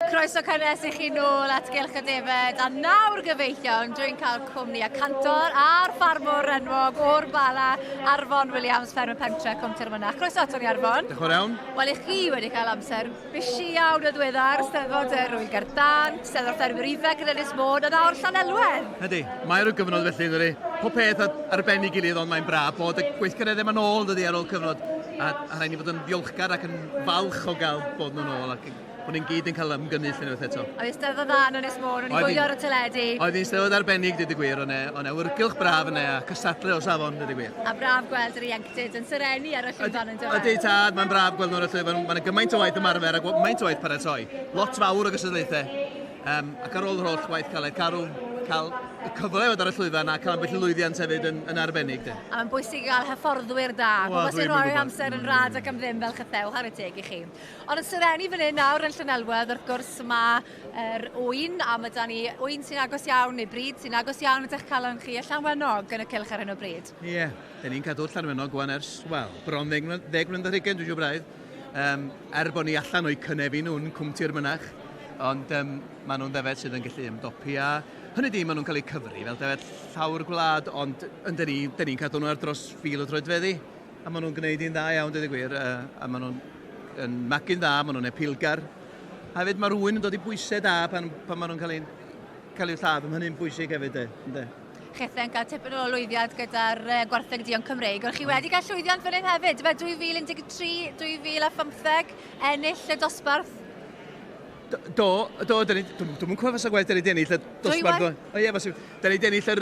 Croeso cynnes i chi nôl at Gylch y Defaid a nawr gyfeillion dwi'n cael cwmni y cantor a'r ffarmwr enwog o'r Bala, Arfon Williams, fferm y pentre Cwm Tyrmynach. Croeso ato ni Arfon. Diolch yn iawn. Wel i chi wedi cael amser busy iawn y ddweddar, Steddfod yr Wyl Gardan, Steddfod Ffermwyr Ifanc yn Ynys Môn a nawr Llanelwedd. Ydy, mae'r gyfnod felly yn dydi. Pob peth ar, ar ben ei gilydd ond mae'n braf bod y gweithgareddau yma'n ôl dydy ar ôl cyfnod a, a rhaid ni fod yn ddiolchgar ac yn falch o gael bod nhw'n ôl ac O'n i'n gyd yn cael ymgynnull unwaith eto. Oedd hi'n steddfod dda yn Ynys Môn, o'n i'n gwylio ar y teledu. Oedd hi'n steddfod arbennig, dweud y gwir, o'n e, o'n e wrgylch braf yn e, a cystadlu o safon, dweud y gwir. A braf gweld yr ieuenctid yn serennu ar y llwyfan yn dyfa. Ydy, tad, mae'n braf gweld nhw ar y llwyfan, mae'n gymaint o waith ymarfer a gymaint o waith paratoi. Lot fawr o gystadlaethau. Um, ac ar ôl yr holl waith caled carw, cael y cyfle i fod ar y llwyfan a cael ambell i lwyddiant hefyd yn, yn arbennig. De. A mae'n bwysig i gael hyfforddwyr da, pobl sy'n rhoi amser yn rad ac am ddim fel chytheu, o chwarae teg i chi. Ond yn Sir Enni fan hyn nawr yn Llanelwedd, wrth gwrs, mae'r ŵyn, a mae da ni ŵyn sy'n agos iawn, neu bryd sy'n agos iawn at eich calon chi, y Llanwenog yn y cylch ar hyn o bryd. Ie, yeah, da ni'n cadw Llanwenog wan ers, wel, bron ddeg mlynedd ar hugen, dwi'n siŵr braidd. Um, er bod ni allan o'i cynefin nhw'n cwmti'r mynach, ond um, maen nhw'n ddefed sydd yn gallu ymdopi a hynny di, maen nhw'n cael eu cyfri fel defed llawr gwlad, ond yn da ni'n ni cadw nhw ar dros fil o droedfeddi. A maen nhw'n gwneud hi'n dda iawn, dweud y gwir, a maen nhw'n yn magu'n dda, maen nhw'n epilgar. A hefyd mae'r ŵyn yn dod i bwysau da pan, pan maen nhw'n cael eu, cael eu lladd, mae hynny'n bwysig hefyd, de. Chethau'n cael tipyn o lwyddiant gyda'r gwartheg dion Cymreig, ond chi wedi cael llwyddiant fan hyn hefyd, fe 2013, 2015, ennill y dosbarth Do, do, dyn ni, dwi'n dwi cofio fas o gwaith, dyn ni wedi ennill y dosbarth. O ie, fas, dyn ni wedi ennill yr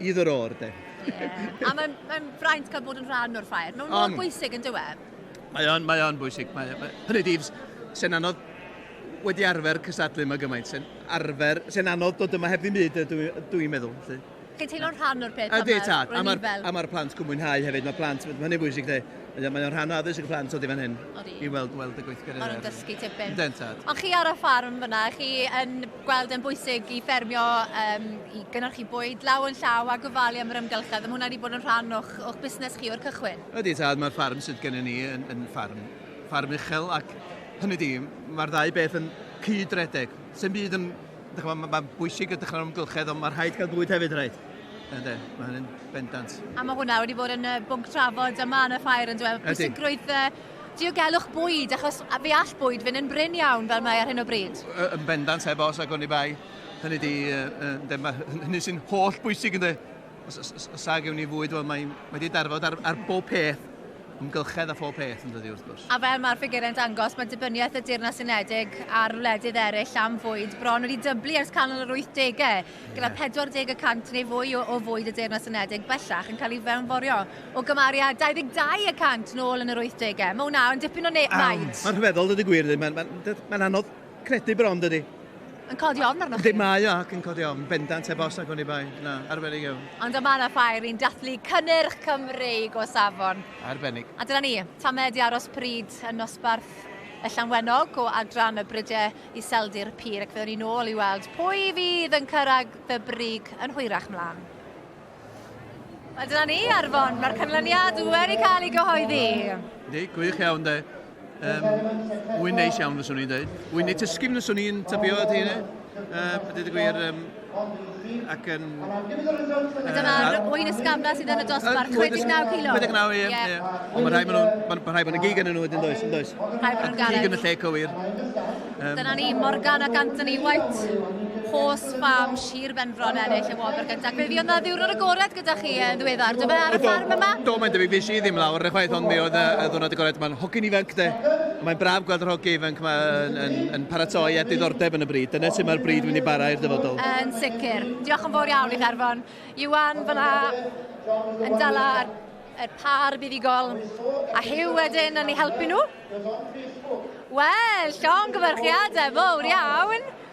Either or, de. Yeah. A mae'n mae fraint cael bod yn rhan o'r ffair. Mae'n mor bwysig yn dywe. Mae o'n, mae o'n bwysig. Mae, mae, hynny di, sy'n anodd wedi arfer cystadlu yma gymaint, sy'n arfer, sy'n anodd dod yma heb ddim byd, dwi'n dwi meddwl. Lle. Chi'n teimlo'n rhan o'r peth? A di, ta. A mae'r ma, ma plant cwmwyn hau hefyd, mae plant, mae hynny'n bwysig, de. Mae o'n rhan o addysg y plant o di fan hyn. I weld, weld y gweithgareddau. Mae nhw'n dysgu tipyn. Dentad. Ond chi ar y ffarm fyna, chi yn gweld e'n bwysig i ffermio um, i gynnyrchu bwyd law yn llaw a gofalu am yr ymgylchedd. Mae hwnna wedi bod yn rhan o'ch, o'ch busnes chi o'r cychwyn? Ydy, tad, mae'r ffarm sydd gennym ni yn, yn ffarm, ffarm uchel ac hynny di, mae'r ddau beth yn cyd-redeg. Sy'n byd yn... Mae'n ma, ma bwysig y dechrau'r ymgylchedd, ond mae rhaid cael bwyd hefyd, rhaid. Ynddo, mae hynny'n bendant. A mae hwnna wedi bod yn bwnc trafod yma yn y ffair yn dweud, pwysigrwydd Diogelwch bwyd, achos fe all bwyd fynd yn brin iawn fel mae ar hyn o bryd. Yn bendant, heb os ac oni bai. Hynny ydi, hynny sy'n holl bwysig ynde. Os, os, os, os ag ewn ni fwyd, wel mae wedi darfod ar, ar bob peth ymgylchedd a phob peth yn dydi wrth gwrs. A fel mae'r ffigurau'n dangos, mae dibyniaeth y Deyrnas Unedig ar wledydd eraill am fwyd bron wedi dyblu ers canol yr 80au. gyda 40 y cant neu fwy o fwyd y Deyrnas Unedig bellach yn cael ei fewnforio, o gymaru â 22 y cant nôl yn yr wythdegau. Mae hwnna yn dipyn o faint. Mae'n rhyfeddol, dydy gwir ddim. Mae'n mae, mae anodd credu bron, dydy. Yn codi ofn arnoch chi? Dim mae o ac yn codi ofn, bendant heb os ac o'n i bai. Na, arbennig iawn. Ond o mae yna ffair i'n dathlu cynnyrch Cymreig o safon. Arbennig. A dyna ni, tamed i aros pryd yn nosbarth y Llanwenog o adran y Brydau Iseldir Pur ac fe o'n ni nôl i weld pwy fydd yn cyrraedd y brig yn hwyrach mlaen. Wel dyna ni, Arfon, mae'r canlyniad wedi cael ei gyhoeddi. Di, gwych iawn de. Um, wy'n neis iawn fyswn i'n dweud. Wy'n ei tysgu fyswn i'n tybio at hynny. Uh, Dydy gwir, um, Ac yn... A dyna'r wyn ysgafna sydd yn y dosbarth, 59 kilo. 59, ie. ie. Ond mae rhai maen nhw'n... Mae ma rhai maen nhw'n gig yn nhw wedyn, does, yn does? Rhai maen nhw'n garreg. Gig yn y lle cywir. Um, Dyna ni, Morgan ac Anthony White. Horse Farm, Sir Benfro yn ennill y wobr gyntaf. Be fi oedd na ddiwrnod agored gyda chi yn ddiweddar, dyma ar y ffarm yma? Do, mae'n debyg, fi i ddim lawr yn chwaith, ond mi oedd y, y ddwrnod agored, mae'n hogyn ifanc de. Mae'n braf gweld yr hogyn ifanc yma yn, yn, yn paratoi a diddordeb yn y bryd. Dyna sut mae'r bryd wedi bara i'r dyfodol. Yn sicr. Diolch yn fawr iawn i Garfon. Iwan fyna yn dala yr par buddugol a Hugh wedyn yn ei helpu nhw. Wel, llongyfarchiadau fawr iawn.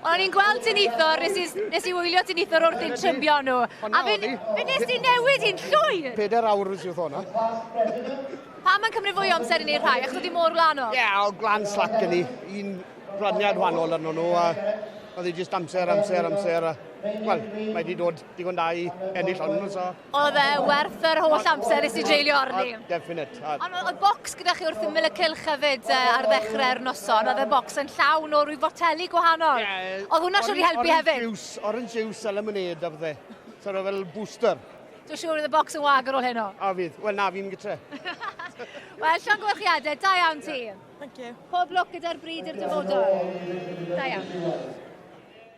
O'n i'n gweld dinithor, nes i, nes i wylio dinithor wrth i'n trymio nhw. A fe, fe nes ti newid i'n llwyr! Peder awr nes i wrth hwnna. Pam mae'n cymryd fwy o amser i ni rhai? Achos oedd hi mor glanol? Ie, yeah, o glan slac yn ni. Un raniad wahanol arno nhw a oedd hi jyst amser, amser, amser. A, wel, mae wedi dod digon da i ennill hwn, so... Oedd e werth yr holl amser nes i dreulio arni? Definite. Ond oedd bocs gyda chi wrth ymyl y cylch hefyd uh, ar ddechrau'r noson. Oedd y bocs yn llawn o rhyw foteli gwahanol. Yeah, oedd hwnna siwr i helpu orange hefyd? Juice, orange juice a lemonade a bydde. Sort of fel booster. Dwi'n siŵr oedd y bocs yn wag ar ôl heno. A fydd. Wel na, fi'n gytre. Wel, Sean Gwyrchiadau, da iawn ti. Thank you. Pob lwc gyda'r bryd i'r dyfodol. Da iawn.